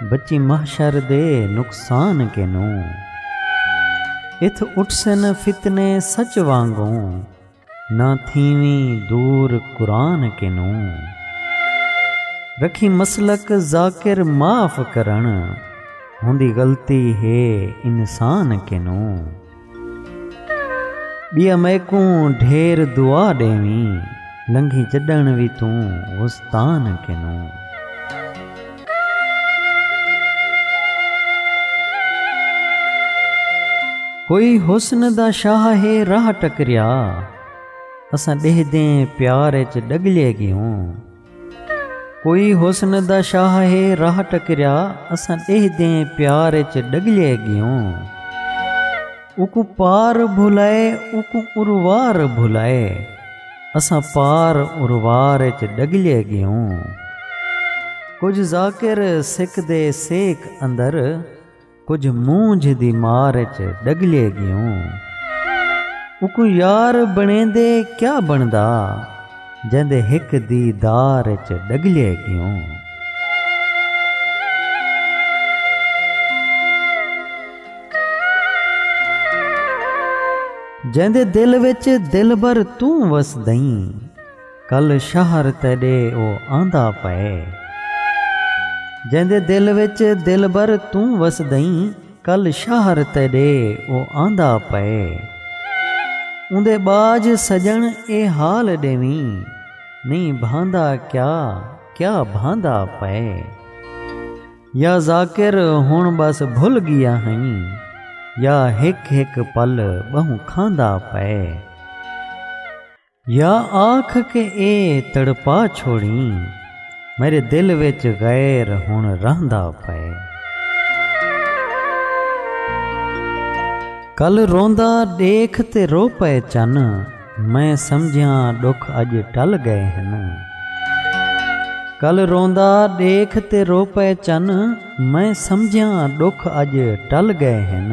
بچی محشر دے نقصان کنوں۔ اتھ اٹھسن فتنے سچ وانگوں۔ نہ تھیویں دور قرآن کنوں۔ رکھیں مسلک ذاکر معاف کرݨ۔ ہوندی غلطی ہے انسان کنوں۔ ٻیا میکوں ڈھیر دعا ݙیویں لنگھی جݙݨ وی توں غستان کنوں۔ کوئی حسن دا شاہ ہے راہ ٹکریا اساں ݙیہدیں پیار اچ ݙڳلے ڳیوں۔ کوئی حسن دا شاہ ہے راہ ٹکریا اساں ݙیہہ دیں پیار اچ ݙڳلئے ڳیوں اوکوں پار بھلائے اوکوں اروار بھلائے اساں پار اروار اچ ݙڳلئے ڳیوں کجھ ذاکر سکدے سیک اندر کجھ مونجھ دی مار اچ ڈگلے گیوں اکوں یار بنڑیندے کیا بنڑدا جیندے ہک دی دار اچ ڈگلے گیوں۔ جیندے دل وچ دلبر توں وسدئیں۔ کل شہر تیݙے او آندا پئے۔ جیندے دل وچ دلبر توں وسدئیں کل شہر تیݙے او آندا پئے۔ اوندے ٻاجھ سڄݨ اے حال ݙیویں نئیں بھاندا کیا کیا بھاندا پئے۔ یا ذاکر ہݨ ٻس بھل ڳیا ہئیں یا ہک ہک پل ٻہوں کھاندا پئے۔ یا آکھ کے اے تڑپا چھوڑیں میݙے دل وچ غیر ہݨ رہندا پئے۔ کل روندا ݙیکھ تے رو پئے چن میں سمجھیاں ݙکھ اڄ ٹل ڳئے ہن۔ کل روندا ݙیکھ تے رو پئے چن میں سمجھیاں ݙکھ اڄ ٹل ڳئے ہن۔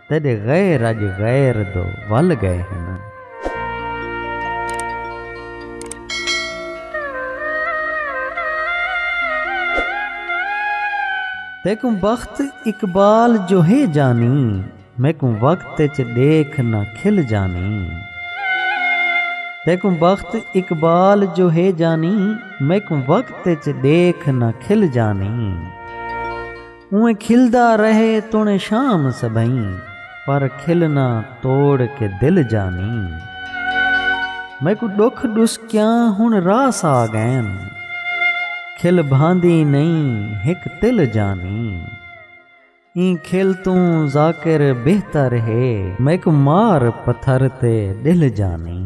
تیݙے غیر اڄ غیر دو ول ڳئے ہنن۔ تیکوں بخت اقبال جو ہے جانی میکوں وقت اچ ݙیکھ نہ کھل جانی تیکوں بخت اقبال جو ہے جانی میکوں وقت اچ ݙیکھ نہ کھل جانی۔ اونویں کھلدا رہے توݨے شام سبھئیں پر کھلنا توڑ کے دل جانیں میکوں ݙکھ ݙسکیاں ہݨ راس آ ڳئن کھل بھاندی نئیں ہک تل جانیں ایں کھل توں ذاکر بہتر ہے میکوں مار پتھر تے ݙلھ جانیں۔